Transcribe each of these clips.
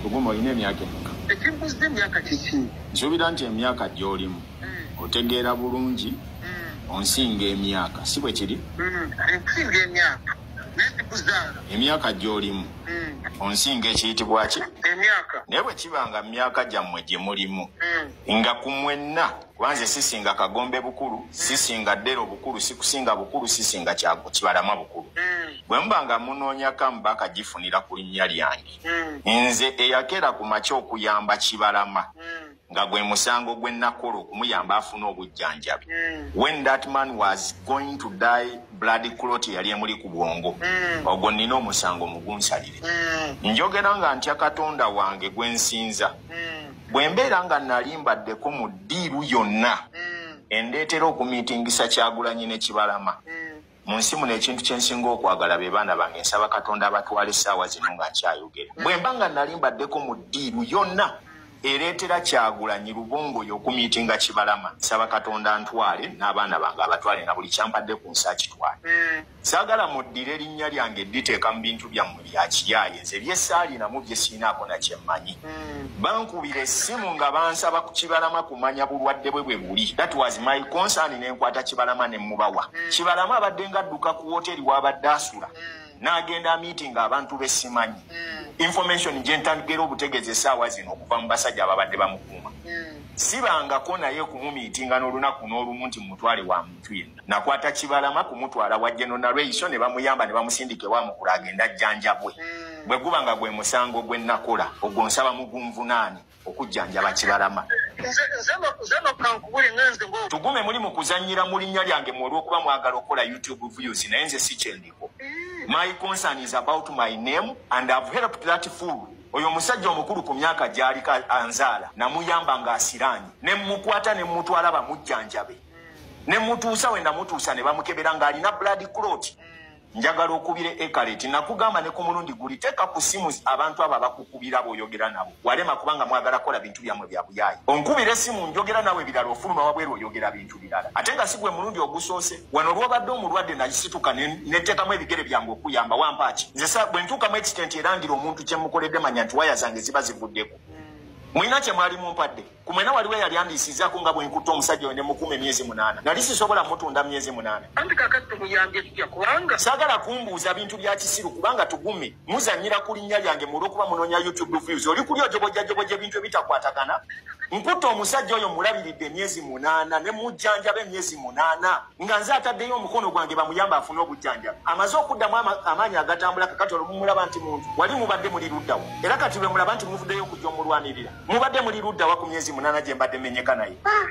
Luguma olina emyaka emeka? Ekimbuzza emyaka kiki? Nsuubira nti emyaka gy'olimu hmm. otegeera bulungi hmm. onsinga emyaka si bwe kiri? Hmm. Ensinga emyaka emyaka gy'olimu onsinga ekiyitibwa ki naye bwe kiba nga mu myaka gyammwe gye mulimu nga ku mwenna kubanze sisinga kagombe bukulu sisinga ddero bukulu sikusinga bukulu sisinga kibalama bukulu bwe muba nga munoonya kamu bakagifunira ku linnya lyange hmm. nze eyagera ku makya okuyamba kibalama hmm. nga gwe musango gwe nakola okumuyamba afuna obujjanjabi hmm. when that man was going to die blood clot yali emuli ku bwongo ogwo nina omusango mugunsalire njogera nga ntya katonda wange gwe nsinza bwe mbeera nga nali mbaddeko mu ddiiru yonna endeetera okumiitingisa kyagulanyi ne kibalama mu nsi muno ekintu kye nsinga okwagala be baana bange nsaba katonda abatwala essaawa zino nga nkyayogera bwe mba nga nali mbaddeko mu ddiiru yonna ereetera kyagulanyi lubongo oyo okumiiti nga kibalama nsaba katonda ntwale n'abaana bange abatwale na buli kyampadde ku nsi akitwale mm. saagala muddira erinnya lyange dditeeka mu bintu byammwe yakiyaaye nze byesaalinamu byesiinaako nakyemmanyi hmm. bankubira essimu nga bansaba ku kibalama kumanya bulwadde bwe bwe buli that was my concern ne nkwata kibalama ne mubawa hmm. kibalama abadde nga adduka ku wooteeri w'abadde asula hmm. n'agenda meeting abantu besimanyi information gye ntagera obutegeeza essaawa zino okuva mu basajja ababadde bamukuuma sibangako naye kumumiitinga n'olunaku n'olumu nti mumutwale wamu omuntu yenna. Nakwata Kibalama kumutwala wa General Nalweyiso ne bamuyamba ne bamusindika ewa Mukulu agende ajjanjabwe. Hmm. Bwe guba nga gwe musango gwe nakola ogwo nsaba mugunvunaane okujjanjaba Kibalama. Tugume muli mu kuzannyira mu linnya lyange mu olw'okuba mwagala okukola YouTube views naye nze si kye ndiko. Hmm. My concern is about my name and I've helped that fool. oyo omusajja omukulu ku myaka gy'aliko anzaala namuyamba ng'asiraanye ne mmukwata ne mmutwala bamujjanjabe ne mutuusa we namutuusa ne bamukebera ng'alina blood clot njagala okubira ekaleti nakugamba ne ku mulundi guli teeka ku simu abantu abo abakukubira booyogera nabo walema kubanga mwagala kola bintu byammwe bya buyaayi onkubira esimu njogera nawe birala ofuluma wabweru oyogera bintu birala ate nga si gwe mulundi ogusoose wano olwobadde omulwadde nasituka neteekamu ebigere byange okuyamba wampaaki nze sa bwe ntuukamu ekitenti erangira omuntu kye mukoledde manya nti waya zange ziba zivuddeko mulina kye mwali mumpadde ku mwena waliwo eyali andiisizaako nga bwe nkutte omusajja oyo ne mukuuma emyezi munaana nali sisobola mutunda myezi munaana anti kakati tumuyambye tutya kubanga saagala kumbuuza bintu bya kisiru kubanga tugume muzannyira ku linnya lyange mu olw'okuba munoonya youtube views oli kuli ojobojajobojja ebintu ebitakwatagana nkutte omusajja oyo mulabiridde emyezi munaana ne mujjanjaba emyezi munaana nga nze ataddeyo omukono gwange bamuyamba afune obujjanjaba amaze okuddamu amaanyi agatambula kakati olumumulaba nti muntu wali mubadde muli luddawo era kati lwe mulaba nti muvuddeyo okujja omulwanirira mubadde muli ludda wa ku myezi munana gye mbadde menyeka naye ah,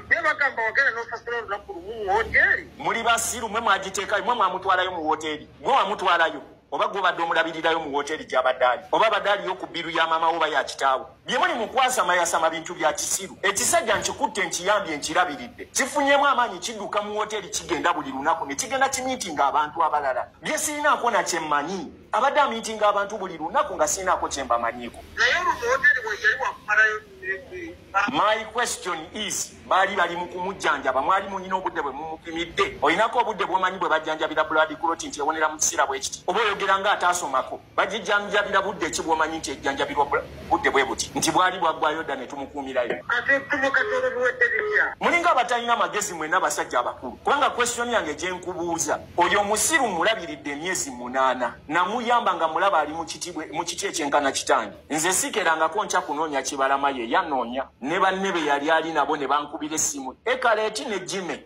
muli basiru mwe mwagiteekayo mwe mwamutwalayo mu wooteeri mwe wamutwalayo oba gwobadde omulabirirayo mu wooteeri gyabadde ali oba abadde aliyo ku bbiru ya maama woba ya kitaawo bye muli mu kwasamayasama bintu bya kisiru ekisajja nkikutte nkiyambye nkirabiridde kifunyemu amaanyi kidduka mu wooteeri kigenda buli lunaku ne kigenda kimiitinga abantu abalala bye sirinaako na kyemmanyi abadde amiitinga abantu buli lunaku nga siinaako kye mbamanyiiko my question is baali bali mu kumujjanjaba mwali munyina obudde bwe mumupimidde olinako obudde bwomanyi bwe bajjanjabira buladi kuloti nti ewonera mu kiseera bwe kiti oba oyogera nga ataasomako bajijjanjabira budde ki bwomanyi nti ejjanjabirwa budde bwe buti nti bwali bwaggwayo dda ne tumukuumirayo mulinga abatalina magezi mwena abasajja abakulu kubanga question yange gye nkubuuza oyo musiru mulabiridde emyezi munaana namuyamba nga mulaba ali mu kiti ekyenkana kitange nze sikerangako nkya kunoonya kibalama ye yanoonya ne banne be yali ali nabo ne bankubira essimu ekaleeti ne jime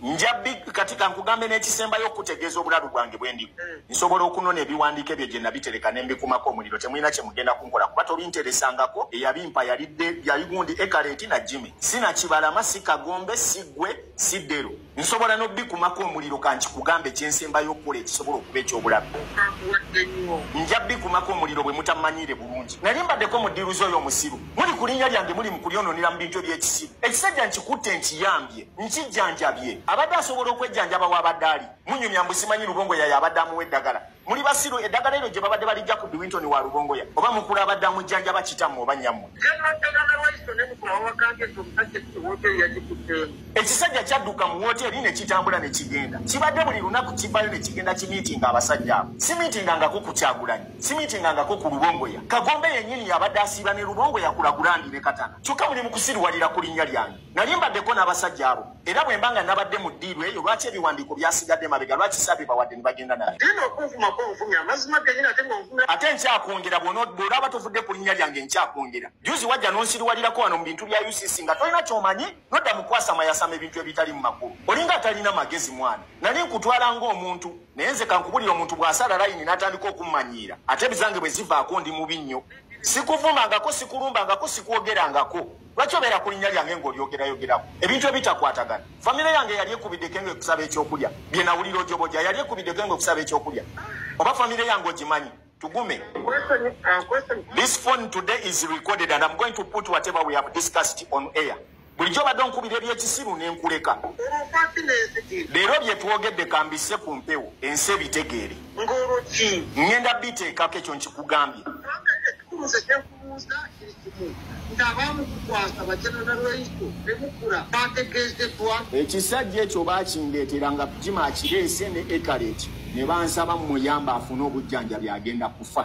njabbi kati kankugambe n'ekisembayo okukutegeeza obulalu bwange bwe ndi hmm. nsobola okunona ebiwandiiko ebyo gye nabitereka ne mbikumako omuliro temulina kye mugenda kunkola kuba tobinteresangako eyabimpa yalidde yaligundi ekaleeti na jime sinakibalama si kagombe si ggwe si ddero nsobola n'obbikumako omuliro kankikugambe kyensembayo okukola ekisobola okuba ekyobulabe nja bbikumako omuliro bwe mutamanyiire bulungi nali mbaddeko mu ddiiruzi oyo omusiru muli ku linnya lyange muli mu kulyononera mu bintu eby'ekisiru ekisajja nkikutte nkiyambye nkijjanjabye abadde asobola okwejjanjaba w'abadde ali munyumya mbu simanyi lubongo yayo abadde amuwa eddagala Muli basiru edagala eno gye babadde balijja ku Biwinton wa Rubongoya oba mukula abadde amujjanjaba kitammwe oba nnyammwe. Ekisajja kyadduka mu wooteeri ne kitambula ne kigenda. Kibadde buli lunaku kivaayo ne kigenda kimiitinga abasajja abo. Simiitinga ngako ku Kyagulanyi, simiitinga ngako ku Rubongoya. Kagombe yennyini yabadde asiiba ne Rubongoya kulagulandi ne Katana. Kyokka muli mu kusiruwalira ku linnya lyange. nali mbaddeko n'abasajja abo era bwe mba nga nabadde mu ddiiru eyo lwaki ebiwandiiko byasigadde mabega lwaki saabibawadde ne bagenda naye ate nkyakwongera bw'olaba tovudde ku linnya lyange nkyakwongera juzi wajja n'onsiriwalirako wano mu bintu bya ucc nga tolina kyomanyi nodda mu kwasama yasama ebintu ebitali mu makulu olinga atalina magezi mwana nali nkutwala ng'omuntu naye nze kankubulira omuntu bw'asala layini n'atandika okummanyiira ate bizange bwe zivaako ndi mubi nnyo sikuvumangako sikulumbangako sikwogerangako lwaki obeera ku linnya lyange ng'olyogerayogerako ebintu ebitakwatagana famire yange yali ekubiddeko nga ekusaba ekyokulya bye nawulira ojoboja yali ekubiddeko nga ekusaba ekyokulya oba famire yange ogimanyi tugume this phone today is recorded and i'm going to put whatever we have discussed on air bulijjo obadde onkubira ebyekisiru nenkuleka leero byetwogedde kambise ku mpewo ensi ebitegeere ngenda biteekako ekyo nkikugambye Okubuuza kiri kimu nti abaamukukwasa bajanana lweiso ne mukula baategeezeddwa. Ekisajja ekyo baakindeetera nga Jima akireese ne Ekareti ne bansaba mmuyamba afune obujjanjabi agenda kufa.